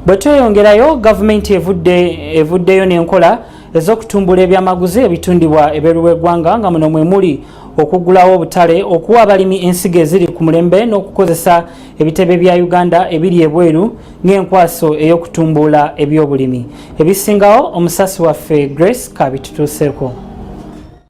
bwe tweyongerayo gavumenti evuddeyo n'enkola ez'okutumbula ebyamaguzi ebitundibwa ebweru w'eggwanga nga muno mwe muli okuggulawo obutale okuwa abalimi ensigo eziri ku mulembe n'okukozesa ebitebe bya uganda ebiri ebweru ng'enkwaso ey'okutumbula ebyobulimi ebisingawo omusasi waffe grace kabitutuuseko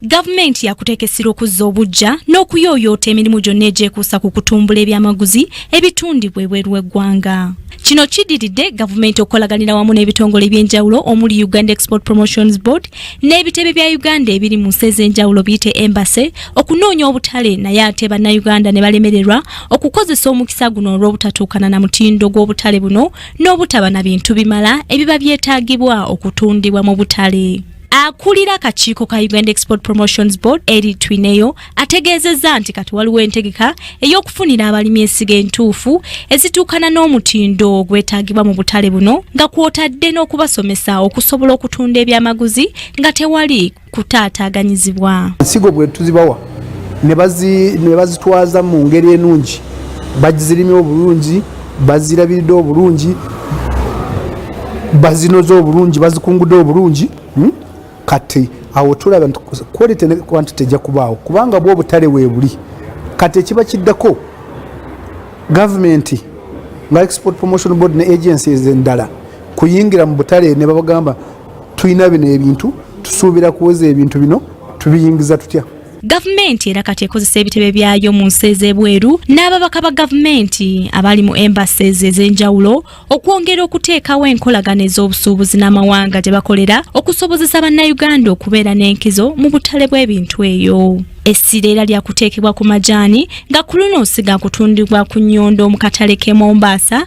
Gavumenti yakuteeka essira okuzza obuggya n'okuyooyoota emirimu gyonna egyekuusa ku kutumbula ebyamaguzi ebitundibwa ebweru w'eggwanga. Kino kidiridde gavumenti okukolaganira wamu n'ebitongole eby'enjawulo omuli Uganda Export Promotions Board n'ebitebe bya Uganda ebiri mu nsi ez'enjawulo biyite Embassy okunoonya obutale naye ate bannayuganda ne balemererwa okukozesa omukisa guno olw'obutatuukana na mutindo gw'obutale buno n'obutaba na bintu bimala ebiba byetaagibwa okutundibwa mu butale. akulira akakiiko ka uganda export promotions board eri twineyo ategeezezza nti kati waliwo entegeka ey'okufunira abalimi ensigo entuufu ezituukana n'omutindo ogwetaagibwa mu butale buno nga kwotadde n'okubasomesa okusobola okutunda ebyamaguzi nga tewali kutaataaganyizibwa ensigo bwe tuzibawa ne bazitwaza mu ngeri enungi bagizirimye obulungi bazirabiridde obulungi bazinoze obulungi bazikungude obulungi hmm? kati awo tulaba nti quality ne quantity ejja kubaawo kubanga bwo obutale weebuli kati ekiba kiddako gavumenti nga export promotion board ne agencies endala kuyingira mu butale ne babagamba tulina bino ebintu tusuubira kuweza ebintu bino tubiyingiza tutya gavumenti era kati ekozesa ebitebe byayo mu nsi ez'ebweru n'ababaka ba gavumenti abali mu embases ez'enjawulo okwongera okuteekawo enkolagana ez'obusuubuzi n'amawanga gye bakolera okusobozesa bannayuganda okubeera n'enkizo mu butale bw'ebintu eyo essira era lyakuteekebwa ku majaani nga ku luno siga kutundibwa ku nnyondo mu katale k'e mombaasa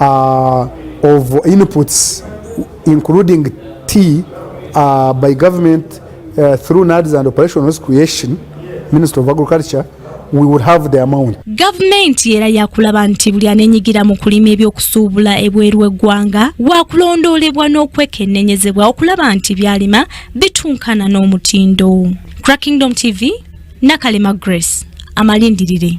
uh, of inputs including tea uh, by government uh, through NADS and operationals creation Minister of Agriculture we would have the amount. Government era yakulaba nti buli anenyigira mu kulima ebyokusuubula ebweru eggwanga wakulondoolebwa n'okwekennenyezebwa okulaba nti byalima bitunkana n'omutindo. Crackingdom TV, Nakalema Grace, amalindirire.